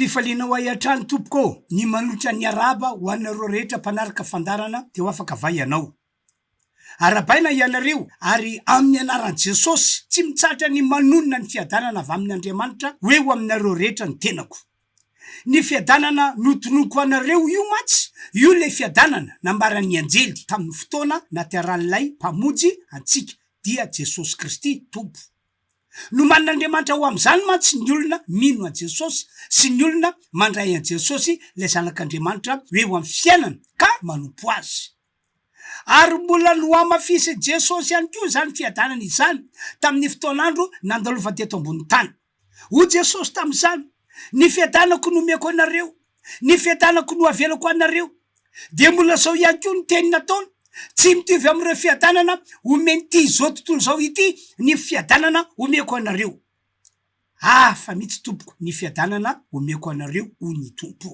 Fifaliana ho ahy hatrany tompoko ô! Ny manolotra ny Arahaba ho anareo rehetra mpanaraka fandaharana dia ho afaka vay ianao. Arahabaina hianareo, ary amin'ny anaran'i Jesosy, tsy mitsahatra ny manonona ny fiadanana avy amin'Andriamanitra ho eo aminareo rehetra ny tenako. Ny fiadanana notonoko anareo io mantsy, io ilay fiadanana nambaran'ny anjely tamin'ny fotoana natiaran'ilay Mpamonjy antsika, dia Jesosy Kristy Tompo. Nomanin'Andriamanitra ho amin'izany mantsy ny olona mino an'i Jesosy sy ny olona mandray an'i Jesosy ilay Zanak'Andriamanitra ho eo amin'ny fiainany ka manompo Azy. Ary mbola nohamafisin'i Jesosy ihany koa izany fiadanana izany tamin'ny fotoan'andro nandalovany teto ambonin'ny tany. Hoy Jesosy tamin'izany, Ny fiadanako no omeko anareo, ny fiadanako no avelako anareo. Dia mbola izao ihany koa ny teny nataony, Tsy mitovy amin'ireo fiadanana omen'ity izao tontolo izao ity ny fiadanana omeko anareo. Hafa mihitsy, Tompoko, ny fiadanana omeko anareo, hoy ny Tompo.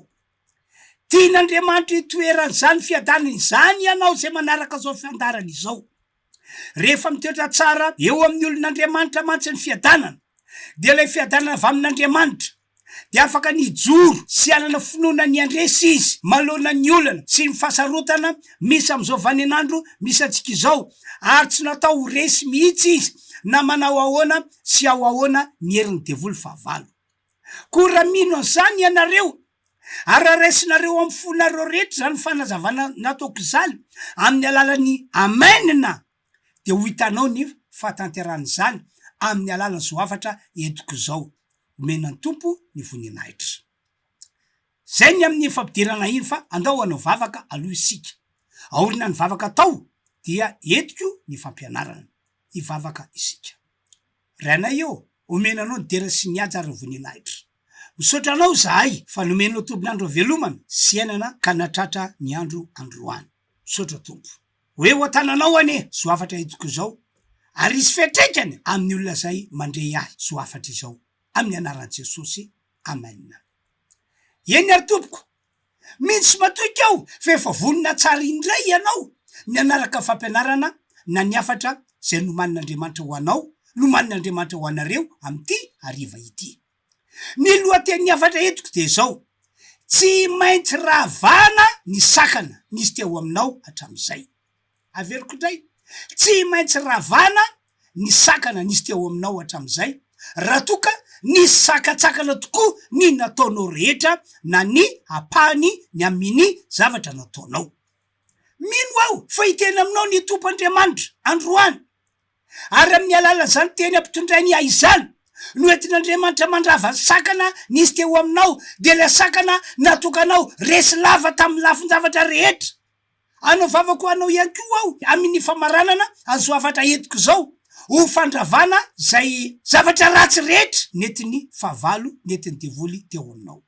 Tian'Andriamanitra hitoeran'izany fiadanana izany ianao izay manaraka izao fiandarany izao. Rehefa mitoetra tsara eo amin'ny olon'Andriamanitra mantsy ny fiadanana, dia ilay fiadanana avy amin'Andriamanitra, dia afaka ny hijoro sy hanana finoana ny handresy izy manoloana ny olana sy ny fahasarotana misy amin'izao vaninandro misy antsika izao, ary tsy natao ho resy mihitsy izy na manao ahoana sy ao ahoana ny herin'ny devoly fahavalo. Koa raha mino an'izany ianareo, ary raisinareo amin'ny fonareo rehetra izany fanazavana nataoko izany amin'ny alalan'ny Amen-na, dia ho hitanao ny fahatanterahan'izany amin'ny alalan'izao hafatra entiko izao, Omena ny Tompo ny voninahitra. Izay ny amin'ny fampidirana iny, fa andao hanao vavaka aloha isika. Aorina ny vavaka atao, dia entiko ny fampianarana. Hivavaka isika. Ranay ô, omena anao ny dera sy ny haja ary ny voninahitra. Misaotra anao izahay fa nomenao tolon'andro avelomana sy iainana ka nahatratra ny andro androany. Misaotra Tompo. Ho eo an-tananao anie zao hafatra entiko izao ary hisy fiantraikany amin'ny olona izay mandre ahy zao hafatra izao. Amin'ny anaran'i Jesosy, Amen. Eny ary Tompoko, Miditsy matoy k'ao fa efa vonona tsara indray ianao ny hanaraka ny fampianarana na ny hafatra izay nomanin'Andriamanitra ho anao, nomanin'Andriamanitra ho anareo amin'ity hariva ity. Ny lohatenin'ny hafatra entiko dia izao, Tsy maintsy ravana ny sakana nisy teo aminao hatramin'izay. Averiko indray, tsy maintsy ravana ny sakana nisy teo aminao hatramin'izay, raha toa ka nisy sakantsakana tokoa ny nataonao rehetra na ny ampahany ny aminny zavatra nataonao. Mino aho fa hiteny aminao ny Tompo Andriamanitra androany, ary aminny alalan'izany teny ampitondrainy ahy izany no entin'Andriamanitra mandrava ny sakana nisy teo aminao, dia ilay sakana natokanao resy lava taminny lafin-javatra rehetra. Anovavako anao ihany koa aho amin' ny famaranana azo hafatra entiko izao ho fandravana izay zavatra ratsy rehetra nentin' ny fahavalo nentin' ny devoly teo aminao.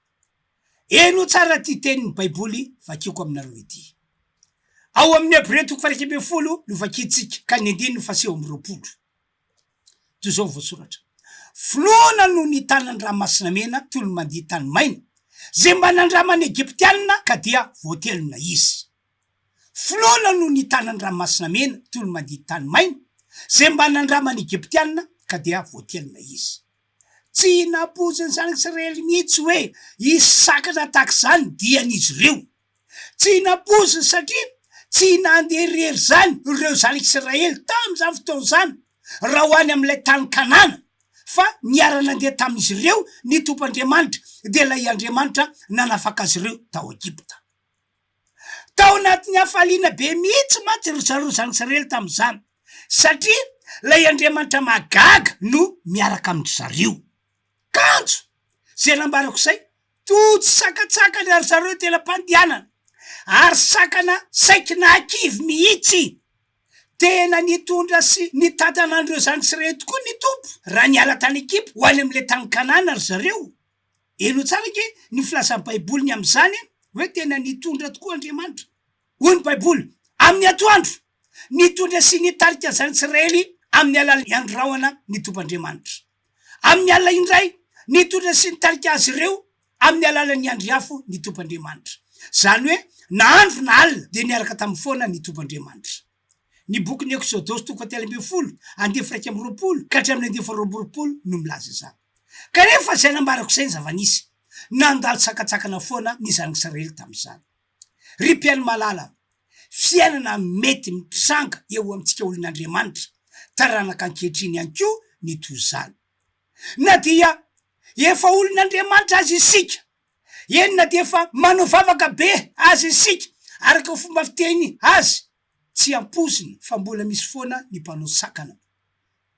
Heno tsara ity tenin' ny Baiboly vakiako aminareo ity. Ao amin' ny Hebrea toko fairaika ambin'ny folo no vakintsika ka ny andininy faha sivy amby roapolo. Toy izao ny voasoratra, Finoana no nitana ny Ranomasinamena toy ny mandia tany maina, izay mba nandraman'ny Egyptiana ka dia voatelina izy. Finoana no nitana ny Ranomasinamena toy ny mandia tany maina, izay mba nandraman'ny Egyptiana ka dia voatelina izy. Tsy nampoizin'ny Zanak'Israely mihitsy hoe hisy sakana tahaka izany ny dian'izy ireo. Tsy nampoiziny satria tsy nandeha irery izany ireo zanak'Israely tamin'izany fotoana izany raha ho any amin'ilay tany Kanana, fa niara-nandeha tamin'izy ireo ny Tompoandriamanitra, dia ilay Andriamanitra nanafaka azy ireo tao Egypta. Tao anatin'ny hafaliana be mihitsy mantsy ry zareo zanak'Israely tamin'izany, satria ilay Andriamanitra mahagaga no miaraka amin-dry zareo. Kanjo! Zay nambarako zay, toa tsy sakantsakany ry zareo tena mpandianana, ary sakana saiky nahakivy mihitsy. Tena nitondra sy nitantana an'ireo zandritsy reheto koa ny Tompo, raha niala tany Egypta ho any amin'ilay tany Kanana ry zareo. Henoy tsara ange ny filazan'ny Baiboly ny amin'izany hoe tena nitondra tokoa Andriamanitra. Hoy ny Baiboly, Amin'ny atoandro, nitondra sy nitarika ny zana-ts'Israely amin'ny alalan'ny andrahona ny Tompo Andriamanitra. Amin'ny alina indray, nitondra sy nitarika azy ireo amin'ny alalan'ny andry afo ny tompandriamanitra. Izany hoe, na andro na alina dia niaraka tamin'ny foana ny tompandriamanitra. Ny bokin'ny Eksodosy toko fahatelo ambin'ny folo, andivo iraika amby roapolo ka hatramin'ny andivo faharoa amby roapolo no milaza izany. Kanefa izay nambarako izay ny zava-nisy. Nandalo sakatsakana foana ny zanak'Israely tamin'izany. Ry mpihaino malala, fiainana mety mitranga eo amintsika olon'Andriamanitra taranaka ankehitriny ihany koa ny toy izany. Na dia efa olon'Andriamanitra aza isika, eny na dia efa manao vavaka be aza isika, araka ny fomba fiteny azy, tsy ampoizina fa mbola misy foana ny mpanao sakana.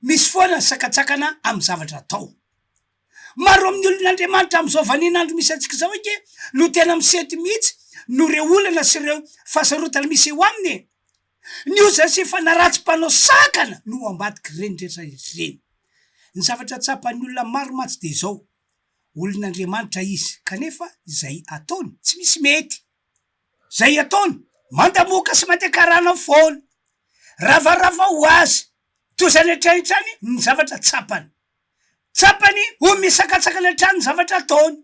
Misy foana ny sakantsakana amin'ny zavatra atao. Maro amin'ny olon'Andriamanitra amin'izao vanin'andro misy antsika izao ange no tena misety mihitsy noho ireo olana sy ireo fahasarotana misy eo aminy e! Ny ozany sy fanaratsy mpanao sakana no ambadik'ireny rehetra ireny. Ny zavatra tsapan'ny olona maro mantsy dia izao, olon'Andriamanitra izy kanefa izay ataony tsy misy mety. Izay ataony, mandamoka sy mandeha karana foana. Ravarava ho azy, toa izany hatrany hatrany ny zavatra tsapany. Tsapany ho misakatsakana hatrany ny zavatra ataony,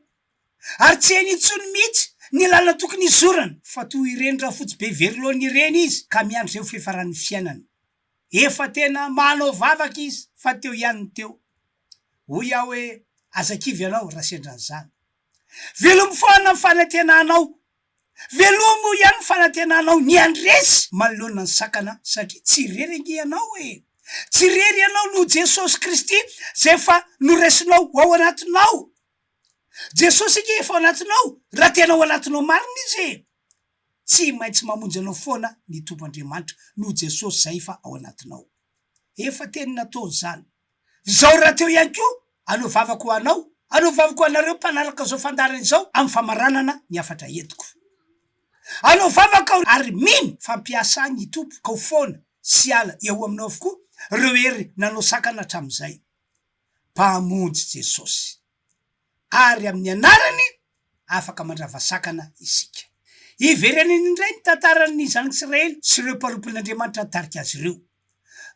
ary tsy hainy intsony mihitsy ny lalana tokony hizorany, fa toa ireny rafotsy be very laoniny ireny izy, ka miandry izay ho fiafaran'ny fiainany. Efa tena manao vavaka izy, fa teo ihany ny teo. Hoy aho hoe, Aza kivy ianao, raha sendra an'izany. Velom-poana ny fanantenanao Velomo ihany ny fanantenanao ny handresy manoloana ny sakana satria tsy irery ange ianao e! Tsy irery ianao noho Jesosy Kristy izay efa noraisinao ho ao anatinao. Jesosy ange efa ao anatinao raha tena ao anatinao marina Izy e! Tsy maintsy mamonjy anao foana ny Tompo Andriamanitra noho Jesosy izay efa ao anatinao. Efa teny nataony izany. Izao rahateo ihany koa, anao vavako ho anao, anao vavako ho anareo mpanaraka izao fandaharana izao amin'ny famaranana ny hafatra entiko. Anao vavaka aho ary mino fa hampiasa ahy ny Tompo ka ho foana sy hiala eo aminao avokoa ireo hery nanao sakana hatramin'izay. Mpamonjy Jesosy. Ary amin'ny anarany afaka mandrava sakana isika. Hiverenany indray ny tantaran'ny zanak'Israely sy ireo mpanompon'Andriamanitra nitarika azy ireo.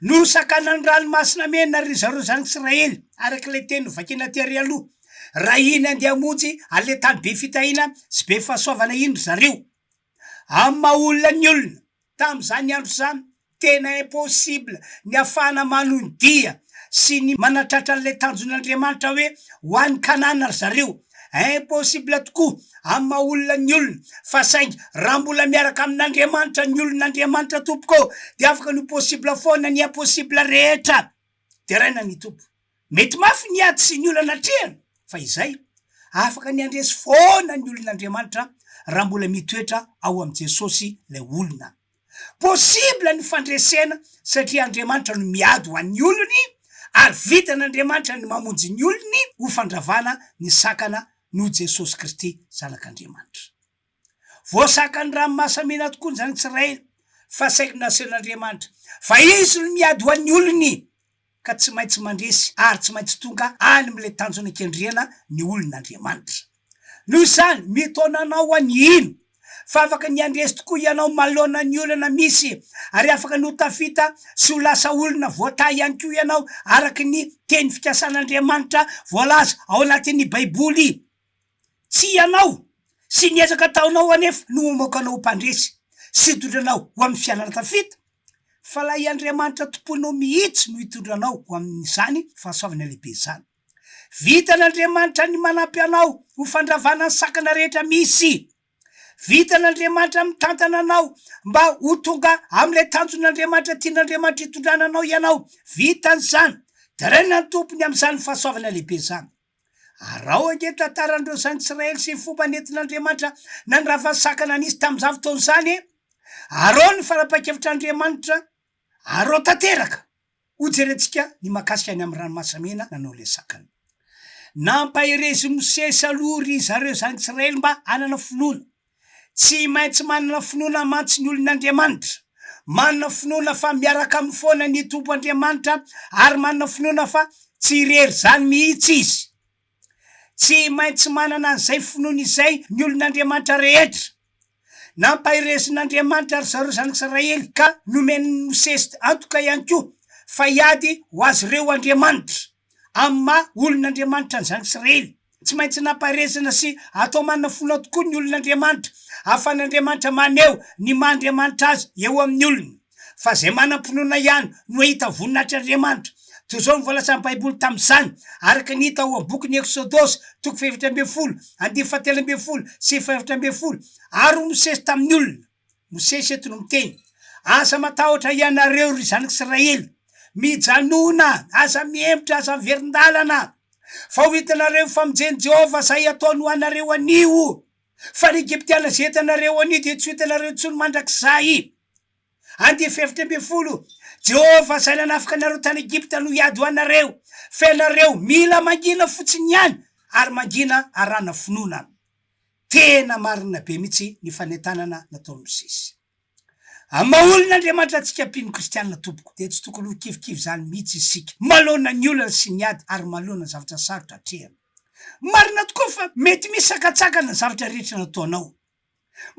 Nosakanan'ny ranomasina mena ry zareo zany Israely, araka ilay teny novakiana aty ary aloha. Raha iny andeha hamonjy an'ilay tany be fitahiana sy be fahasoavana iny ry zareo. Amin'ny maha olona ny olona, tamin'izany andro izany, tena impossible ny hahafahana manondia sy ny manatratra an'ilay tanjon'Andriamanitra hoe ho any Kanana ry zareo. Impossible tokoa amin'ny maha olona ny olona fa saingy raha mbola miaraka amin'Andriamanitra ny olon'Andriamanitra tompoko ô dia afaka ny ho possible foana ny impossible rehetra deraina ny Tompo. Mety mafy ny ady sy ny olana atrehina fa izay afaka ny handresy foana ny olon'Andriamanitra raha mbola mitoetra ao amin'i Jesosy ilay olona Possible ny fandresena satria Andriamanitra no miady ho an'ny olony ary vitan'Andriamanitra ny mamonjy ny olony ho fandravana ny sakana noho Jesosy Kristy Zanak'Andriamanitra. Voasakan'ny ranomasamena tokoa izany tsirairay fa saiky naseho n'Andriamanitra fa Izy no miady ho an'ny olony. ka tsy maintsy mandresy ary tsy maintsy tonga any amin'ilay tanjona kendrena ny olon'Andriamanitra. Noho izany, mitaona anao any hino fa afaka ny handresy tokoa ianao manoloana ny olana misy, ary afaka ny ho tafita sy ho lasa olona voatahy ihany koa ianao araka ny teny fikasan'Andriamanitra voalaza ao anatin'ny Baiboly. Tsy ianao sy ny ezaka ataonao anefa no hamoaka anao ho mpandresy sy hitondra anao ho amin'ny fiainana tafita, fa ilay Andriamanitra tomponao mihitsy no hitondra anao ho amin'izany fahasoavana lehibe izany. Vitan'Andriamanitra ny manampy anao ho fandravana ny sakana rehetra misy. Vitan'Andriamanitra mitantana anao mba ho tonga amin'ilay tanjon'Andriamanitra tian'Andriamanitra hitondrana anao ianao. Vitany izany. Deraina ny Tompo ny amin'izany fahasoavana lehibe izany. Araho ange ny tantaran'ireo Zantsiraely sy ny fomba nentin'Andriamanitra nandrava ny sakana nisy tamin'izany fotoana izany e! Araho ny fanapahan-kevitr'Andriamanitra, araho tanteraka! Hojerentsika ny mahakasika ny amin'ny ranomasimena nanao ilay sakana. Nampaherezin'i Mosesy aloha ry zareo Zantsiraely mba hanana finoana. Tsy maintsy manana finoana mantsy ny olon'Andriamanitra. Manana finoana fa miaraka aminy foana ny Tompo Andriamanitra ary manana finoana fa tsy irery izany mihitsy izy. Tsy maintsy manana an'izay finoana izay ny olon'Andriamanitra rehetra. Nampaherezin'Andriamanitra ry zareo zanak'Israely ka nomen'i Mosesy antoka ihany koa fa hiady ho azy ireo Andriamanitra. amin'ny maha olon'Andriamanitra an'izany tsy reny. Tsy maintsy nampaherezana sy atao manina fona tokoa ny olon'Andriamanitra, ahafahan'Andriamanitra maneho ny maha Andriamanitra Azy eo amin'ny olony. Fa izay manam-pinoana ihany no hahita voninahitr'Andriamanitra. Toy izao no voalazan'ny Baiboly tamin'izany, araka ny hita ao amin'ny bokin'ny Eksodosy, toko fahefatra ambin'ny folo, andinin'ny fahatelo ambin'ny folo sy fahaefatra ambin'ny folo, Ary Mosesy tamin'ny olona. Mosesy eto no miteny, Aza matahotra hianareo, ry zanak'i Israely. Mijanòna, aza mihemotra, aza miverin-dalana, fa ho hitanareo ny famonjen'i Jehovah izay hataony ho anareo anio, fa ny Egyptiana izay hitanareo anio dia tsy ho hitanareo intsony mandrakizay. And. Efatra ambin'ny folo, Jehovah izay nanafaka anareo tany Egypta no hiady ho anareo, fa ianareo mila mangina fotsiny ihany, ary mangina arahana finoana. Tena marina be mihitsy ny fanentanana nataon'i Mosesy. Amin'ny maha olon' Andriamanitra antsika mpino kristiana tompoko dia tsy tokony ho kivikivy izany mihitsy isika manoloana ny olana sy ny ady ary manoloana ny zavatra sarotra atrehina. Marina tokoa fa mety misy sakantsakana ny zavatra rehetra nataonao.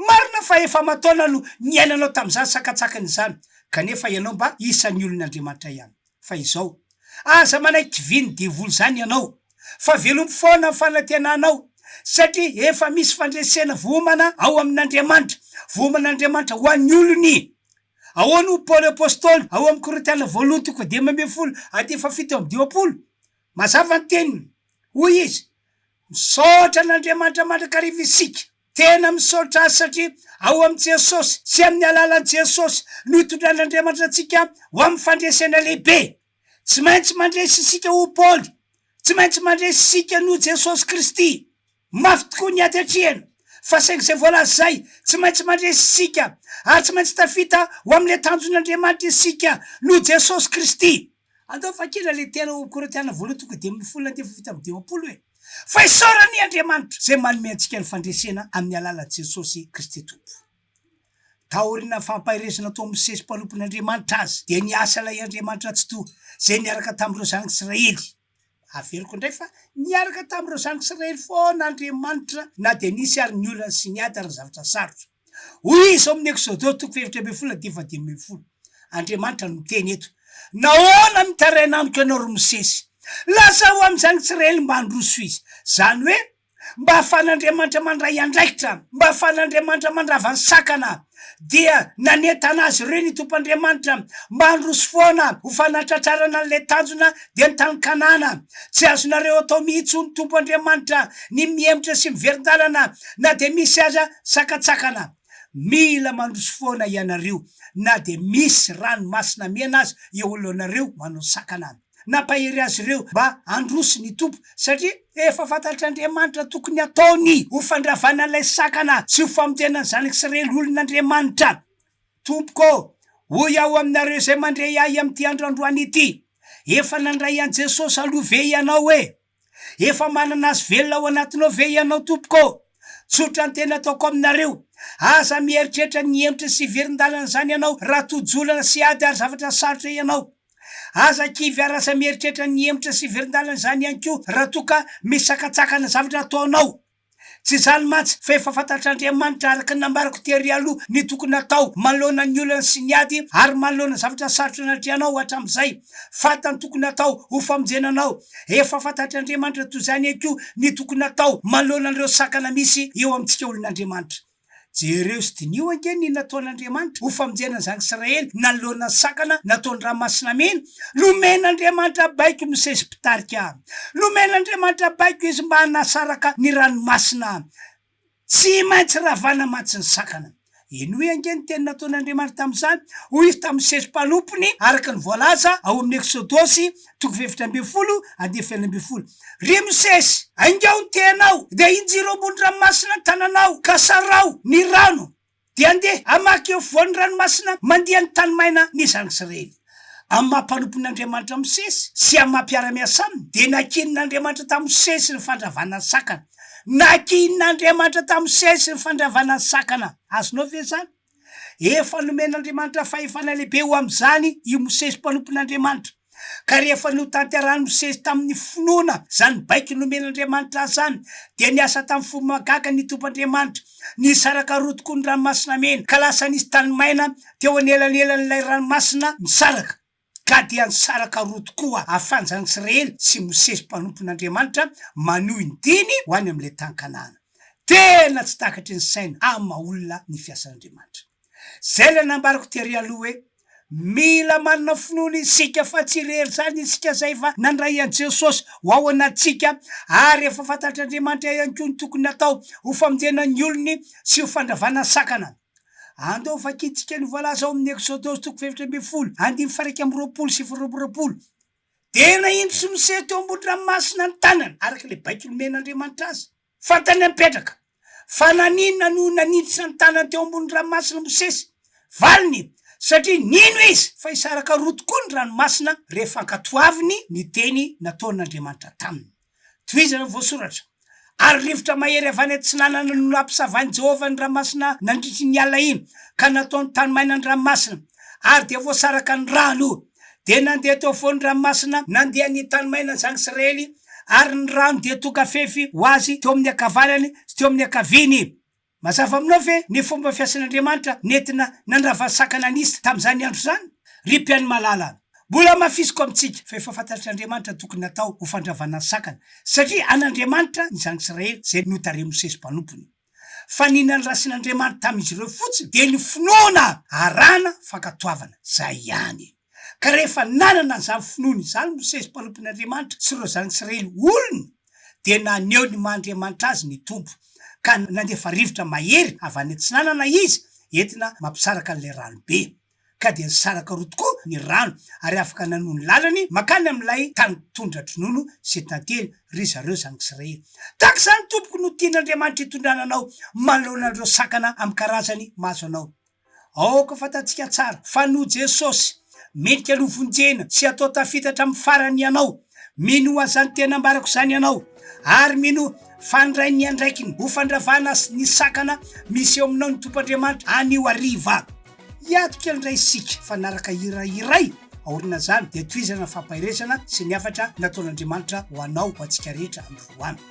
Marina fa efa aman-taona no niainanao tamin'izany sakantsakana izany, kanefa ianao mba isan'ny olon' Andriamanitra ihany. Fa izao, aza manaiky vin'ny devoly izany ianao, fa velomy foana ny fanantenanao, satria efa misy fandresena vohomana ao amin'Andriamanitra, vohoman'Andriamanitra ho an'ny olony. Ahoana hoy Paoly Apostoly ao amin'ny Korintiana Voalohany toko fahadimy ambin'ny folo andinin'ny fahafito amby dimampolo? Mazava ny teniny. Hoy izy, Misaotra an'Andriamanitra mandrakariva isika. Tena misaotra azy satria ao amin'i Jesosy sy amin'ny alalan'i Jesosy no itondran'Andriamanitra antsika ho amin'ny fandresena lehibe. Tsy maintsy mandresy isika ho Paoly. Tsy maintsy mandresy isika noho Jesosy Kristy. Mafy tokoa ny ady atrehina, fa saingy izay voalaza izay, tsy maintsy mandresy isika, ary tsy maintsy tafita ho amin'ilay tanjon'Andriamanitra isika noho Jesosy Kristy. Andao fa kila le tena ho korintiana voalohany tonga dia amin'ny folo andevo vita amin'ny dimampolo e! Fa isaorany Andriamanitra izay manome antsika ny fandresena amin'ny alalan'i Jesosy Kristy Tompo. Taorian'ny fampaherezana tao amin'ny sesy mpanompon'Andriamanitra azy dia niasa ilay Andriamanitra Tsitoha izay niaraka tamin'ireo zanak'Israely. Averiko indray fa niaraka tamin'ireo zanak'Israely foana Andriamanitra na dia nisy ary ny olana sy ny ady ary ny zavatra sarotra. Hoy Izy ao amin'ny Eksôdô toko fahefatra ambin'ny folo andininy fahadimy ambin'ny folo, Andriamanitra no miteny eto, Nahoana mitaraina amiko ianao, ry Mosesy? Lazao amin'izany Israely mba handroso izy. Izany hoe, mba ahafahan'Andriamanitra mandray andraikitra, mba ahafahan'Andriamanitra mandrava ny sakana. Dia nanentana azy ireo ny Tompo Andriamanitra mba handroso foana ho fanatratrarana an'ilay tanjona dia ny tany Kanana. Tsy azonareo atao mihitsy, hoy ny Tompo Andriamanitra, ny mihemotra sy miverin-dalana na dia misy aza sakantsakana. Mila mandroso foana ianareo, na dia misy ranomasina mena aza eo alohanareo manao sakana. Nampahery azy ireo mba handroso ny Tompo, satria efa fantatr'Andriamanitra tokony hataony ho fandravana ilay sakana sy ho famonjena ny zanak'Israely olon'Andriamanitra. Tompoko ô, hoy aho aminareo izay mandre ahy amin'ity andro androany ity, Efa nandray an'i Jesosy aloha ve ianao e? Efa manana Azy velona ao anatinao ve ianao, tompoko ô? Tsotra ny teny ataoko aminareo, aza mieritreritra ny hentitra sy hiverin-dalan'izany ianao raha tojolana sy ady ary zavatra sarotra ianao. Aza kivy ary aza mieritreritra ny hentitra sy hiverin-dalan'izany ihany koa raha toa ka misy sakantsakana zavatra ataonao. Tsy izany mantsy, fa efa fantatr'Andriamanitra, araka ny nambarako tery aloha, ny tokony hatao manoloana ny olana sy ny ady, ary manoloana zavatra sarotra natrehanao hatramin'izay. Fantany tokony hatao ho famonjena anao. Efa fantatr'Andriamanitra toy izany ihany koa ny tokony hatao manoloana an'ireo sakana misy eo amintsika olon'Andriamanitra. Jereo sy diniho ange ny nataon'Andriamanitra ho famonjena an'izany Israely nanoloana ny sakana nataony ranomasina mena, nomen'Andriamanitra baiko ny sezim-pitarika, nomen'Andriamanitra baiko izy mba hanasaraka ny ranomasina, tsy maintsy ravana mantsy ny sakana. Henoy ange ny teny nataon'Andriamanitra tamin'izany, hoy izy tamin'ny sezim-panompony, araka ny voalaza ao amin'ny Eksodosy Toko efatra ambin'ny folo, andininy fahenina ambin'ny folo. Ry Mosesy, aingao ny tenao, dia injiro ambony ranomasina ny tananao, ka saraho ny rano, dia andeha hamaky eo afovoan'ny ranomasina mandia ny tany maina ny zanak'Israely. Amin'ny maha mpanompon' Andriamanitra Mosesy sy amin'ny maha mpiara-miasa aminy, dia nakihin' Andriamanitra tamin'i Mosesy ny fandravana ny sakana. Nakihin' Andriamanitra tamin'i Mosesy ny fandravana ny sakana. Azonao ve izany? Efa nomen'Andriamanitra fahefana lehibe ho amin'izany i Mosesy mpanompon'Andriamanitra. Ka rehefa notanterahin'i Mosesy tamin'ny finoana izany baiko nomen'Andriamanitra azy izany, dia niasa tamin'ny fo mahagaga ny tomp'Andriamanitra. Nisaraka roa tokoa ny ranomasina mena, ka lasa nisy tany maina teo anelanelan'ilay ranomasina misaraka. Ka dia nisaraka roa tokoa Afanja an'i Israely sy Mosesy mpanompon'Andriamanitra manohy ny diany ho any amin'ilay tany Kanana. Tena tsy takatry ny saina amin'ny maha olona ny fiasan'Andriamanitra. Izay ilay nambarako tery aloha hoe, mila manana finoana isika fa tsy irery izany isika izay efa nandray an'i Jesosy ho ao anatintsika ary efa fantatr'Andriamanitra ihany koa ny tokony hatao ho famonjena ny olony sy ho fandravana sakana. Andao vakintsika ny voalaza ao amin'ny Eksodosy toko fahefatra ambin'ny folo, andininy faha iraika amby roapolo sy faha roa amby roapolo, Dia nahintsy Mosesy teo ambony ranomasina ny tanany, araka ilay baiko nomen'Andriamanitra azy. Fantany ny mipetraka. Fa naninona no nanintsina ny tanany teo ambony ranomasina Mosesy? Valiny, Satria nino izy fa hisaraka roa tokoa ny ranomasina rehefa ankatoaviny ny teny nataon'Andriamanitra taminy. Tohizana ny voasoratra, Ary rivotra mahery avy any atsinanana no nampisavain'i Jehovah ny ranomasina nandritry ny alina iny, ka nataony tany maina ny ranomasina, ary dia voasaraka ny rano. Dia nandeha teo afovoan'ny ranomasina nandeha ny tany maina ny zanak'i Israely, ary ny rano dia tonga fefy ho azy teo amin'ny ankavanany sy teo amin'ny ankaviany. Mazava aminao ve ny fomba fiasan'Andriamanitra nentina nandrava ny sakana nisy tamin'izany andro izany? Ry mpihaino malala, mbola hamafisiko amintsika fa efa fantatr'Andriamanitra ny tokony natao ho fandravana ny sakana, satria an'Andriamanitra ny zanak'Israely izay notarehin'i Mosesy mpanompony. Fa ny nandrasan'Andriamanitra tamin'izy ireo fotsiny dia ny finoana arahana fankatoavana, izay ihany. Ka rehefa nanana an'izany finoana izany i Mosesy mpanompon'Andriamanitra sy ireo zanats'Israely olony, dia naneho ny maha Andriamanitra azy ny Tompo, ka nandefa rivotra mahery avy any atsinanana Izy entina mampisaraka an'ilay ranobe. Ka dia nisaraka roa tokoa ny rano, ary afaka nanoa ny lalany mankany amin'ilay tany tondra-dronono izay tantely ry zareo zanak'Israely. Tahaka izany tompoko no tian'Andriamanitra hitondrana anao manoloana an'ireo sakana amin-karazany mahazo anao. Aoka fantatsika tsara fa noho Jesosy, mendrika aloha vonjena sy atao tafitatra amin'ny farany ianao. Minoa izany tena ambarako izany ianao, ary minoa fa handray ny andraikiny ho fandravana sy ny sakana misy eo aminao ny Tompo Andriamanitra anio hariva. Hiato kely indray isika fa hanaraka hira iray aorinan'izany dia tohizana ny fampaherezana sy ny hafatra nataon'Andriamanitra ho anao ho antsika rehetra androany.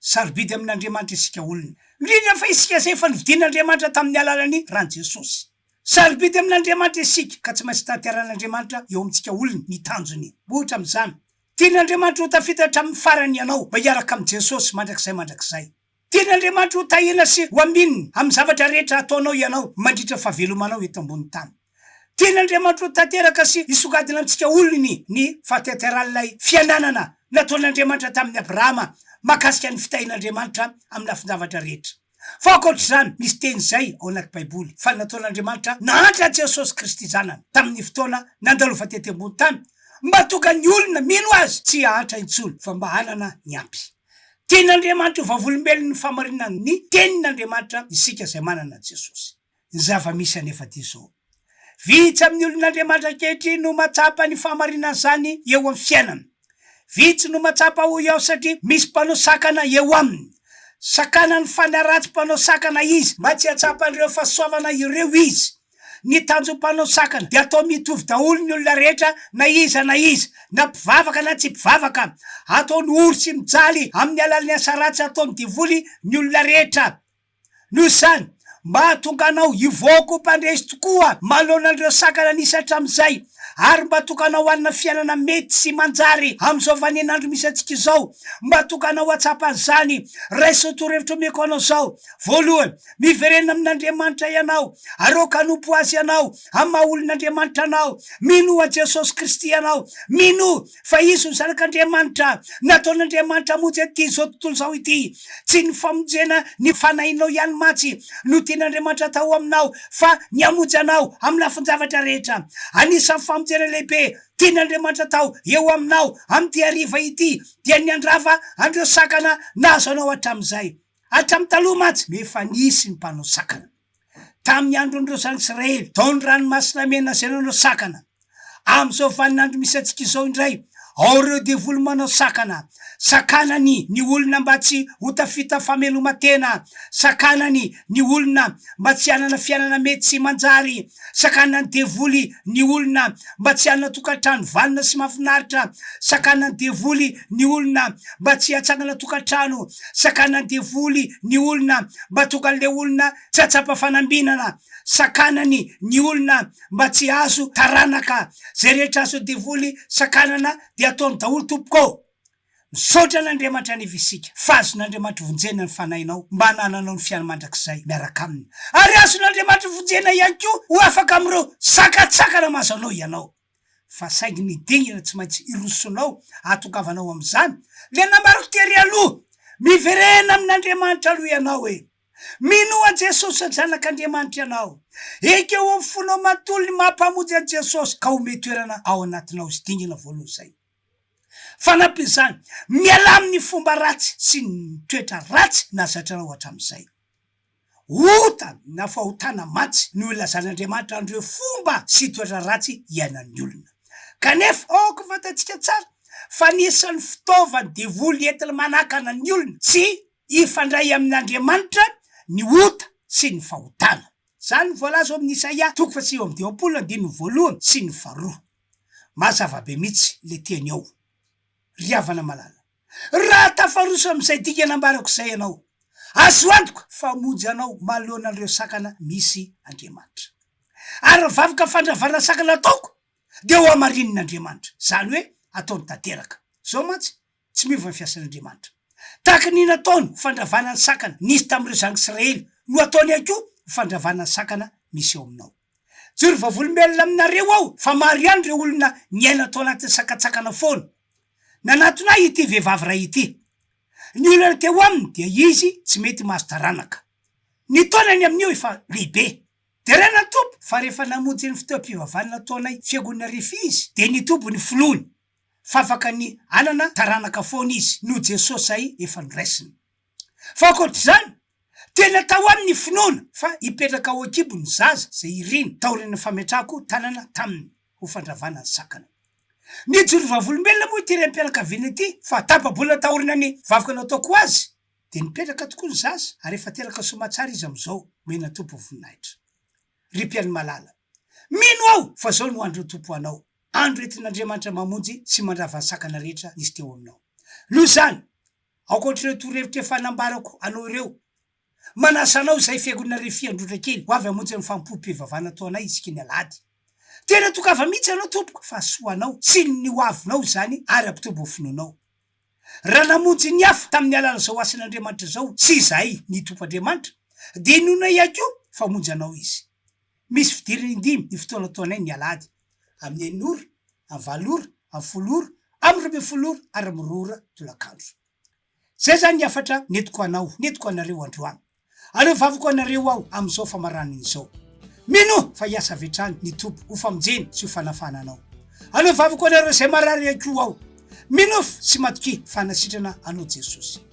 Sarobidy amin' Andriamanitra isika olona, indrindra fa isika izay efa novidin' Andriamanitra tamin' ny alalan' ny ran' Jesosy. Sarobidy amin' Andriamanitra isika, ka tsy maintsy tanterahin' Andriamanitra eo amintsika olona ny tanjony. Ohatra amin' izany, tian' Andriamanitra ho tafita hatramin' ny farany ianao mba hiaraka amin' Jesosy mandrakizay mandrakizay. Tian' Andriamanitra ho tahina sy ho amin' ny amin' ny zavatra rehetra hataonao ianao mandritra ny fahavelomanao eto ambonin' ny tany. Tian'Andriamanitro ho tanteraka sy hisongadina amintsika olony ny fahateteran'ilay fiananana nataon'Andriamanitra tamin'i Abrahama mahakasika ny fitahian'Andriamanitra amin'ny lafin-javatra rehetra. Fa ankoatra izany, misy teny izay ao anaty Baiboly fa nataon'Andriamanitra nahantra an'i Jesosy Kristy Zanany tamin'ny fotoana nandalova tety ambony tany mba hahatonga ny olona mino Azy tsy hahantra intsony fa mba hanana ny ampy. Tian'Andriamanitra ho vavolombelon'ny fahamarinan'ny Tenin'Andriamanitra isika izay manana an'i Jesosy. ny zava-misy anefa dia izao, vitsy amin'ny olon'Andriamanitra ankehitriny no mahatsapa ny fahamarinan'izany eo amin'ny fiainany. Vitsy no mahatsapa hoy aho satria misy mpanao sakana eo aminy. Sakanan'ny fanahy ratsy mpanao sakana izy mba tsy hahatsapan'ireo fahasoavana ireo izy. Ny tanjon'ny mpanao sakana dia atao mitovy daholo ny olona rehetra na iza na iza, na mpivavaka na tsy mpivavaka. Ataony ory sy mijaly amin'ny alalan'ny asa ratsy ataon'ny devoly ny olona rehetra. Noho izany, mba hahatonga anao hivoaka ho mpandresy tokoa manoloana an'ireo sakana nisy hatramin'izay, ary mba hahatonga anao hanana fiainana mety sy manjary amin'izao vaninandro misy antsika izao, mba hahatonga anao hahatsapa an'izany, raiso torohevitra omeko anao izao, Voalohany, miverenana amin'Andriamanitra ianao, aroaka hanompo Azy ianao amin'ny maha olon'Andriamanitra anao, minoa an'i Jesosy Kristy ianao, minoa fa izy no zanak'Andriamanitra, nataon'Andriamanitra hamonjy an'ity izao tontolo izao ity. Tsy ny famonjena ny fanahinao ihany mantsy no tian'Andriamanitra atao aminao, fa ny hamonjy anao amin'ny lafin-javatra rehetra. Anisan'ny famonjena lehibe tian'Andriamanitra atao eo aminao amin'ity hariva ity dia ny handrava an'ireo sakana nahazo anao hatramin'izay. Hatramin'ny taloha mantsy no efa nisy ny mpanao sakana. Tamin'ny andron'ireo Zanak'Israely tao ny Ranomasina Mena izay nanao sakana. Amin'izao vaninandro misy antsika izao indray, ao ireo devoly manao sakana. Sakanany ny olona mba tsy ho tafita fameloma-tena. Sakanany ny olona mba tsy hanana fiainana mety sy manjary. Sakanan'ny devoly ny olona mba tsy hanana tokantrano vanona sy mahafinaritra. Sakanan'ny devoly. ny olona mba tsy hatsangana tokantrano, sakanan'ny devoly ny olona mba tonga an'ilay olona tsy hahatsapa fanambinana, sakanany ny olona mba tsy hahazo taranaka, zay rehetra azon'ny devoly sakanana dia ataony daholo tompoko ô! Misaotra an'Andriamanitra aniva isika fa azon'Andriamanitra vonjena ny fanahinao mba hanananao ny fiainana mandrakizay miaraka aminy, ary azon'Andriamanitra vonjena ihany koa ho afaka amin'ireo sakantsakana mahazo anao ianao. fa saingy ny dingana tsy maintsy irosonao ahatongavanao amin'izany le nambarako tery aloha, miverena amin'Andriamanitra aloha ianao e! Minoa an'i Jesosy Zanak'Andriamanitra ianao, ekeo ao amin'ny fonao manontolo ny maha Mpamonjy an'i Jesosy ka omeo toerana ao anatinao izy dingana voalohany izay. Fanampin'izany, mialà amin'ny fomba ratsy sy ny toetra ratsy nazatranao hatramin'izay. Ota na fahotana mantsy no ilazan'Andriamanitra an'ireo fomba sy toetra ratsy iainan'ny olona. Kanefa, aoka fantatsika tsara fa ny isan'ny fitaovan'ny devoly entiny manakana ny olona tsy hifandray amin'Andriamanitra ny ota sy ny fahotana. Izany no voalaza ao amin'ny Isaia toko fahasivy amby dimampolo andininy voalohany sy ny faharoa. Mazava be mihitsy ilay teny ao, ry havana malala. Raha tafaroso amin'izay dingana ambarako izay ianao, azo antoka fa hamonjy anao manoloana an'ireo sakana misy Andriamanitra. Ary ny vavaka fandravana sakana ataoko dia hohamarinin'Andriamanitra, izany hoe ataony tanteraka. Izao mantsy, tsy miova ny fiasan'Andriamanitra. Tahaka ny nataony ny fandravana ny sakana nisy tamin'ireo zanak'Israely no hataony ihany koa ny fandravana ny sakana misy ao aminao. Joro vavolombelona aminareo aho fa maro ihany ireo olona niaina tao anatin'ny sakantsakana foana. Nanatona ahy ity vehivavy iray ity. Ny olana teo aminy dia izy tsy mety mahazo taranaka. Ny taonany amin'io efa lehibe. Deraina ny Tompo fa rehefa namonjy ny fotoam-pivavahana nataonay Fiangonana Rify izy dia nitoby ny finoany fa afaka ny hanana taranaka foana izy noho Jesosy izay efa noraisina. Fa ankoatr'izany Tena tao aminy ny finoana fa hipetraka ao an-kibo ny zaza izay iriny taorian'ny fametrahako tanana taminy ho fandravana ny sakana. Nijoro vavolombelona moa ity raim-pianakaviana ity fa tapa-bolana taorianan'ny vavaka nataoko azy dia nipetraka tokoa ny zaza ary efa teraka soamatsara izy amin'izao, omena Tompo voninahitra. Ry mpihaino malala. Mino aho fa izao no andron'ny Tompo ho anao, andro entin'Andriamanitra mamonjy sy mandrava ny sakana rehetra nisy teo aminao. Noho izany, Ankoatr'ireo torohevitra efa nambarako anao ireo, manasa anao izay Fiangonana Refi Androndrakely ho avy hamonjy ny fanompoam-pivavahana ataonay isika ny Alahady. Tena tokava mihitsy ianao tompoko fa hasoanao sy ny ho avinao izany ary hampitombo ny finoanao. Raha namonjy ny hafa tamin'ny alalan'izao asan'Andriamanitra izao sy izahay ny Tompo Andriamanitra, dia inoanay ihany koa fa hamonjy anao Izy. Misy fidirana indimy io fotoana tohanay ny alahady, amin'ny enina ora, amin'ny valo ora, amin'ny folo ora, amin'ny roa ambin'ny folo ora ary amin'ny roa ora tolakandro. Izay izany ny hafatra nentiko ho anao, nentiko ho anareo androany. Aleofaviko ho anareo aho amin'izao famaranana izao. Minoa fa hiasa avy hatrany ny Tompo ho famonjena sy ho fanafahana anao. Aleofaviko ho anareo izay marary ihany koa aho. Minoa sy matokia fa hanasitrana anao Jesosy.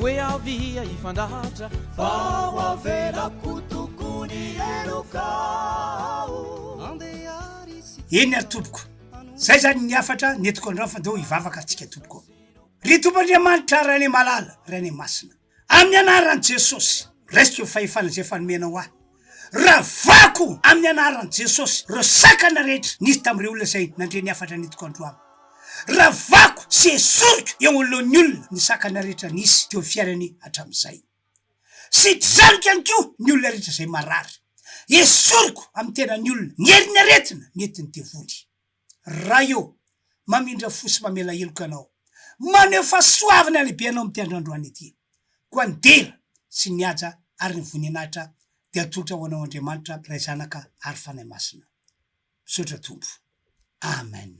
Hoe avia hifandatra fa ho avelako tokony heloka aho Andeha ry sipa Eny ary tompoko, zay zany ny hafatra nentiko andrao fa ndao hivavaka tsika tompoko ô! Ry Tompo Andriamanitra Rainemalala Rainemasina, amin'ny anaran'i Jesosy, raisiko ny fahefana izay efa nomenao ahy, Ravako amin'ny anaran'i Jesosy ireo sakana rehetra nisy tamin'ireo olona izay nandre ny hafatra nentiko androany. Ravako sy esoriko eo anoloan'ny olona ny sakana rehetra nisy teo amin'ny fiainany hatramin'izay. Sidraniko ihany koa ny olona rehetra izay marary. Esoriko amin'ny tenan'ny olona ny herin'ny aretina nentin'ny devoly. Ray ô! Mamindra fo sy mamela heloka Anao. Maneho fahasoavana lehibe Anao amin'ity andro androany ity. Koa ny dera, sy ny haja, ary ny voninahitra dia atolotra ho Anao Andriamanitra, Ray Zanaka, ary Fanahy Masina. Misaotra Tompo. Amen.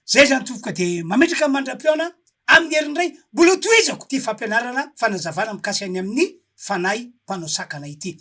Izay izany Tompoko dia mametraka mandra-pihaona amin'ny herin'ny Ray. Mbola ho tohizako ity fampianarana, fanazavana mikasika ny amin'ny Fanahy mpanao sakana ity.